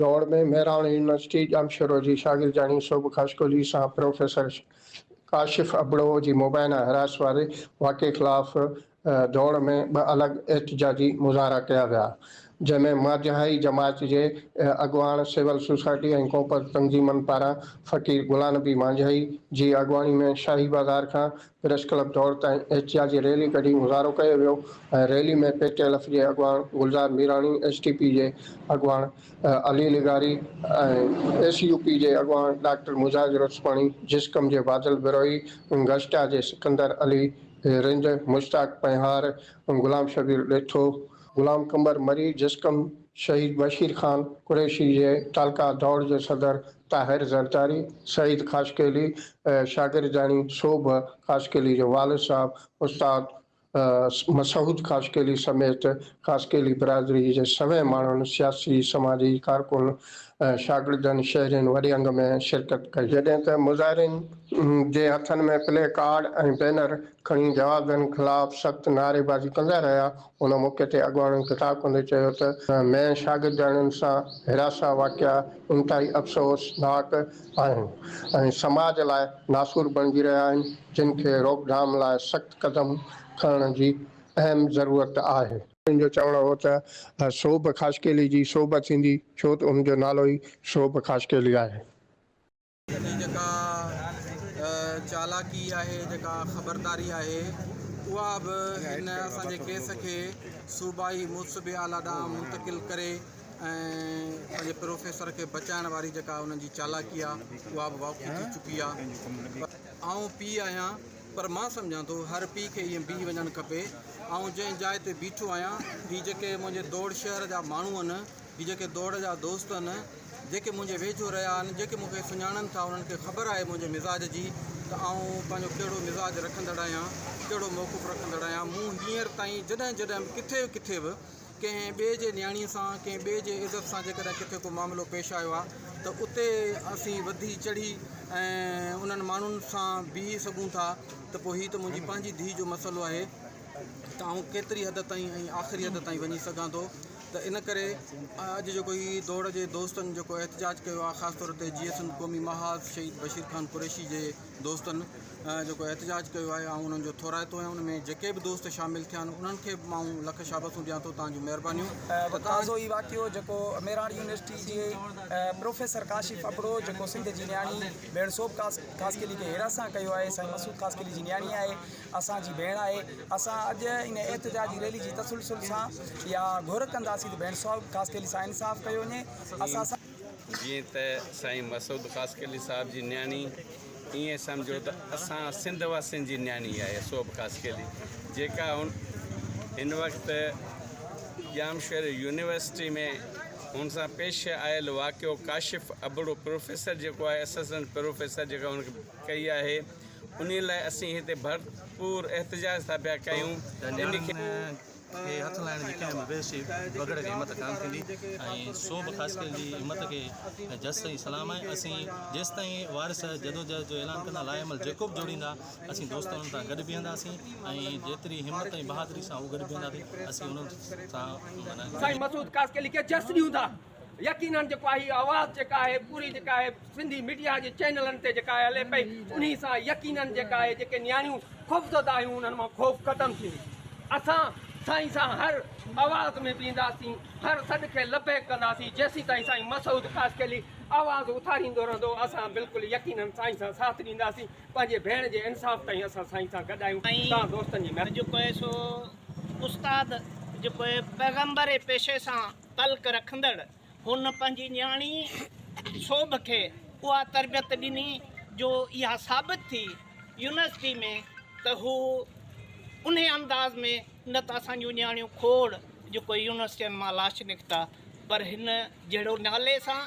ڊوڙ ۾ مهراڻ يونيورسٽي ڄامشورو جي شاگردياڻي سوڀ خاشقولي سان پروفيسر ڪاشف ابڙو جي مبينا حراست واري واقعي خلاف ڊوڙ ۾ ٻه الڳ احتجاجي مظاهرا ڪيا ويا، جنهن ۾ ماجهائي جماعت جي اڳواڻ، سول سوسائٽي ۽ ڪونپر تنظيمن پاران فقير غلانبي ماجهائي جي اڳواڻي ۾ شاهي بازار کان پريس ڪلب دور تائين احتجاج جي ريلي ڪڍي مظاهرو ڪيو ويو ۽ ريلي ۾ پي ٽي الف جي اڳواڻ Gulzar Mirani, S T P جي اڳواڻ علي لغاري ۽ ايس يو پي جي اڳواڻ ڊاڪٽر مجاز رتسپاڻي، جسقم جي بادل بروهي، گشٽا جي سڪندر علي رند، مشتاق پنهار، غلام شبير ڏيٿو، غلام قمبر مري، جسقم شهيد بشير خان قريشي جي تعلقه دوڙ جي صدر طاهر زرداري، سعيد خاشقيلي ۽ شاگردياڻي سوڀ خاشقيلي جو والد صاحب استاد مسعود خاشقيلي سميت خاشقيلي برادري جي سوين ماڻهن، سياسي، سماجي ڪارڪن ۽ شاگردن شهرين وڏي انگ ۾ شرڪت ڪئي. جڏهن ته مظاهرين جي هٿن ۾ پلي ڪارڊ ۽ بينر کڻي جوابدارن خلاف سخت نعريبازي ڪندا رهيا، ان موقعي تي اڳواڻن خطاب ڪندي چيو ته مين شاگردياڻين سان هراسان واقعا انتهائي افسوسناڪ آهن ۽ سماج لاء ناسور بڻجي رهيا آهن جن کي روڪڌام لاء سخت قدم کڻڻ جي اهم ضرورت آهي. ان جو چوڻ هو ته سوڀ خاشقيلي جي سوڀ ٿيندي ڇو ته ان جو نالو ئي سوڀ خاشقيلي آهي. جي جيڪا چالاڪي آهي، جيڪا خبرداري آهي، اها به هن اسان جي ڪيس کي صوبائي محتسب اعليٰ ڏانهن منتقل ڪري ۽ پنهنجي پروفيسر کي بچائڻ واري جيڪا انهن جي چالاڪي آهي، اها به واقعي ٿي چڪي آهي. آئون پيء آهيان، پر مان سمجهان ٿو هر پيء کي ائين بيهي وڃڻ کپي. آئون جنهن جاء تي بيٺو آهيان، هي جيڪي منهنجي دوڙ شهر جا ماڻهو آهن، هي جيڪي دوڙ جا دوست آهن، جيڪي منهنجي ويجهو رهيا آهن، جيڪي مون کي سڃاڻن ٿا، انهن کي خبر آهي منهنجي مزاج جي ته آئون پنهنجو ڪهڙو مزاج رکندڙ آهيان، ڪهڙو موقف رکندڙ آهيان. مون هينئر تائين جڏهن جڏهن به ڪٿي به ڪٿي به ڪنهن ٻئي جي نياڻيء سان، ڪنهن ٻئي جي عزت سان جيڪڏهن ڪٿي ڪو معاملو پيش آيو آهي ته اتي اسين وڌي چڙهي ۽ انهن ماڻهن سان بيهي سگهون ٿا ته پوء هي ته منهنجي پنهنجي ڌيء جو مسئلو آهي ته آئون ڪيتري حد تائين ۽ آخري حد تائين وڃي سگهان ٿو. ته ان ڪري اڄ جيڪو هي دوڙ جي دوستن جيڪو احتجاج ڪيو آهي خاص طور تي جيئي سنڌ قومي محاذ شهيد بشير خان قريشي جي دوستن جيڪو احتجاج ڪيو آهي آئون انهن جو ٿورائتو آهيان ان ۾ جيڪي به دوست شامل ٿيا آهن انهن کي به مان لک شابسون ڏيان ٿو تانجو مهربانيون تازو هي واقعو جيڪو ميراڻ يونيورسٽي جي پروفيسر ڪاشف ابڙو جيڪو سنڌ جي نياڻي ڀيڻ سوڀ خاصخيلي کي هيراسان ڪيو آهي سائين مسعود خاصخيلي جي نياڻي آهي اسان جي ڀيڻ آهي اسان اڄ ان احتجاجي ريلي جي تسلسل سان اها گهر ڪنداسين ته ڀيڻ سوال خاصخيلي سان انصاف ڪيو وڃي اسان سان جيئن ته سائين مسعود خاصخيلي صاحب جي نياڻي ائين سمجهو ته اسان سنڌ واسين جي نياڻي آهي سوڀ خاصخيلي جيڪا هن وقت ڄامشوري يونيورسٽي ۾ هن سان پيش آيل واقعو ڪاشف ابڙو پروفيسر جيڪو آهي اسسٽنٽ پروفيسر جيڪا هن کي ڪئي آهي انهي لاء اسين هتي ڀرپور احتجاج ٿا پيا ڪيون انهي کي کي هٿ لائڻ جي ڪنهن به بيهوشي بگهڙ کي همت ڪانه ٿيندي ۽ سو به خاص ڪري جي همت کي جس ۽ سلام آهي اسين جيستائين وارث جدوجهد جو اعلان ڪندا لاعمل جيڪو به جوڙيندا اسين دوست انهن سان گڏ بيهنداسين ۽ جيتري همت ۽ بهادري سان هو گڏ بيهنداسين اسين انهن سان معنيٰ سائين مسعود خاصخيلي کي جس ڏيون ٿا. يقينن جيڪو آهي هي آواز جيڪا آهي پوري جيڪا آهي سنڌي ميڊيا جي چينلن تي جيڪا آهي هلي پئي انهي سان يقينن جيڪا آهي جيڪي نياڻيون خوفزده آهيون انهن مان خوف ختم ٿيندو اسان سائين سان هر آواز ۾ بيهنداسين هر سڏ کي لبيڪ ڪنداسين جيسين تائين سائين مسعود خاصخيلي آواز اٿاريندو رهندو اسان بلڪل يقينن سائين سان ساٿ ڏينداسين پنهنجي ڀيڻ جي انصاف تائين اسان سائين سان گڏ آهيون تان دوستن جي مهرباني جيڪو آهي سو استاد جيڪو آهي پيغمبر جي پيشي سان تلخ رکندڙ هن پنهنجي نياڻي شوڀ کي اها تربيت ڏني جو اها ثابت ٿي يونيورسٽي ۾ ته هو انهي انداز ۾ نه ته اسان جون نياڻيون کوڙ جيڪو يونيورسٽين مان لاش نڪتا پر هن جهڙو نالي سان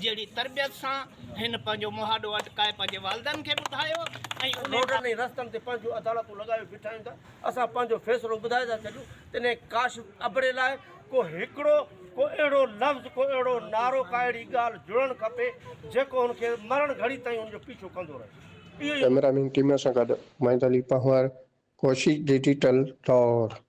جهڙي تربيت سان هن پنهنجو مهاڏو اٽڪائي پنهنجي والدن کي ٻڌايو ۽ روڊن ۽ رستن تي پنهنجون عدالتون لڳايو بيٺا آهيون ته اسان پنهنجو فيصلو ٻڌائي ٿا ڇڏيون تڏهن ڪاش ابڙي لاء ڪو هڪڙو ڪو اهڙو لفظ ڪو اهڙو نعرو ڪا اهڙي ڳالهه جڙڻ کپي جيڪو هن کي مرڻ گهڙي تائين هن جو پيڇو ڪندو رهي اهو ئي ڪئميرا مين ٽيم سان گڏ محمد علي پنهور ڪوشش ڊجيٽل لاهور.